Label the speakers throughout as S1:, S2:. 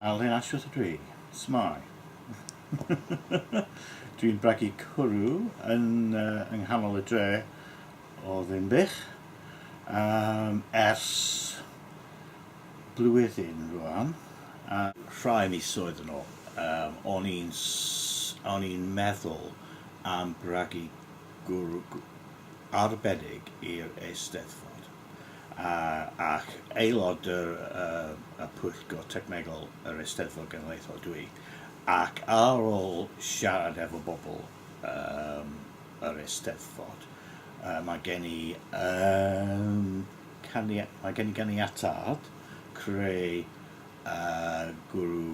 S1: I'll then ask you to agree. Smile. Dwi'n bragu cwrw yn uh, yng nghanol y dre o Ddinbych um, ers blwyddyn rwan. A... Rhai misoedd yn ôl, um, o'n i'n o'n i'n meddwl am bragu gwrw arbennig i'r Eisteddfod. ac aelod y Pwyllgor Technegol yr Eisteddfod Genedlaethol dwi, ac ar ôl siarad efo bobl yr Eisteddfod, mae gen i ganiatâd creu gwryw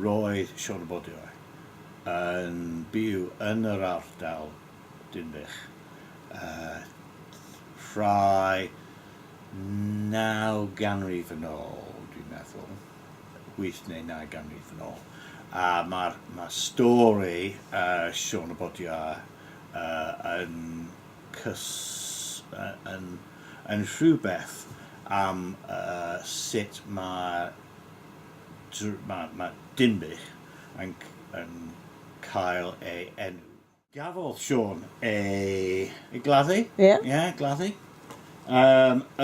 S1: Roedd Siorbodioe yn byw yn yr ardal Dinbych ffrae naw ganrif yn ôl, dwi'n meddwl, wyth neu naw ganrif yn ôl, a mae'r stori Siôn y Bodiau yn rhywbeth am sut mae Mae Dinbych yn cael ei enw. Gafodd Siôn ei gladdu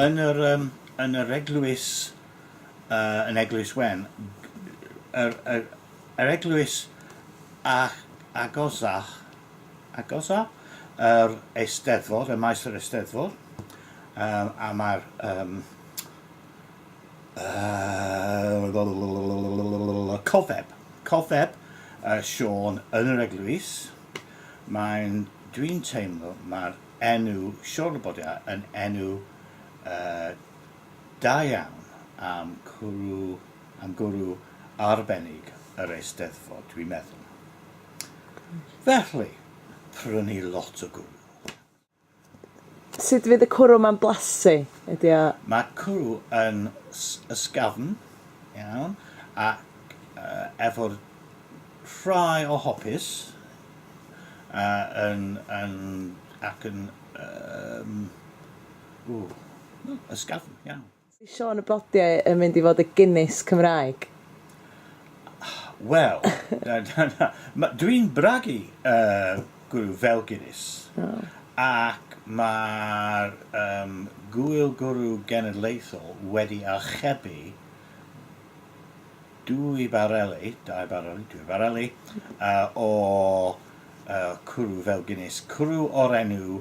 S1: yn yr eglwys yn Eglwys Wen, yr eglwys agosaf i'r Eisteddfod, ym Maes yr Eisteddfod, a mae'r Yy cofeb, cofeb yy Siôn yn yr eglwys, mae'n, dwi'n teimlo mae'r enw Siôn Labodia yn enw yy da iawn am cwrw, am gwrw arbennig yr Eisteddfod, dwi'n meddwl. Felly, prynu lot o gwrw. Sut fydd y cwrw ma'n blasu? Ydi o... Mae cwrw yn ysgafn iawn ac efo rhai o hopys yn ac yn yym ww ysgafn iawn. Ydy Siôn y Blodiau yn mynd i fod y Guinness Cymraeg? Wel, dw i'n bragu, gwrw, fel Guinness, ac mae'r Gŵyl Gwrw Genedlaethol wedi archebu dwy bareli, dau bareli, dwy fareli, o cwrw fel Guinness, cwrw o'r enw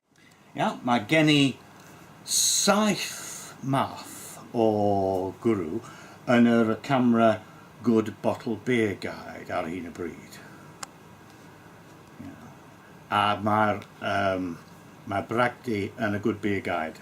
S1: Iawn, mae gen i saith math o gwrw yn yr camera Good Bottle Beer Guide ar hyn o bryd. Iawn. A mae'r um, mae bragdy yn y Good Beer Guide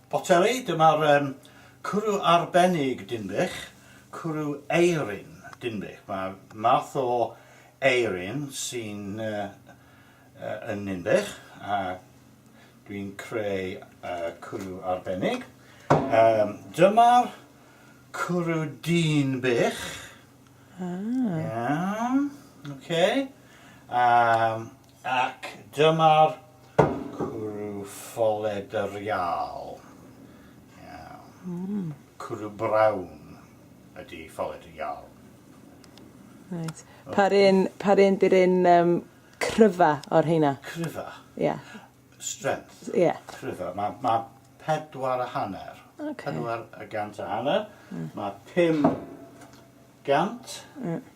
S1: Poteli, dyma'r yym cwrw arbennig Dinbych, cwrw eirin Dinbych. Mae math o eirin sy'n yy yn Ninbych a dwi'n creu yy cwrw arbennig. Yym dyma'r cwrw Dinbych. Ah. Iawn, ok. Yym. Ac dyma'r cwrw ffolled yr Iâl. Iawn. Cwrw brown ydi ffolled y Iâl. Reit. Pa'r un, pa'r un di'r un um, cryfa o'r heina? Cryfa? Ie. Yeah. Strength? Ie. Yeah. Cryfa. Mae ma pedwar a hanner. Okay. Pedwar a gant a hanner. Mm. Mae pum gant. Mm.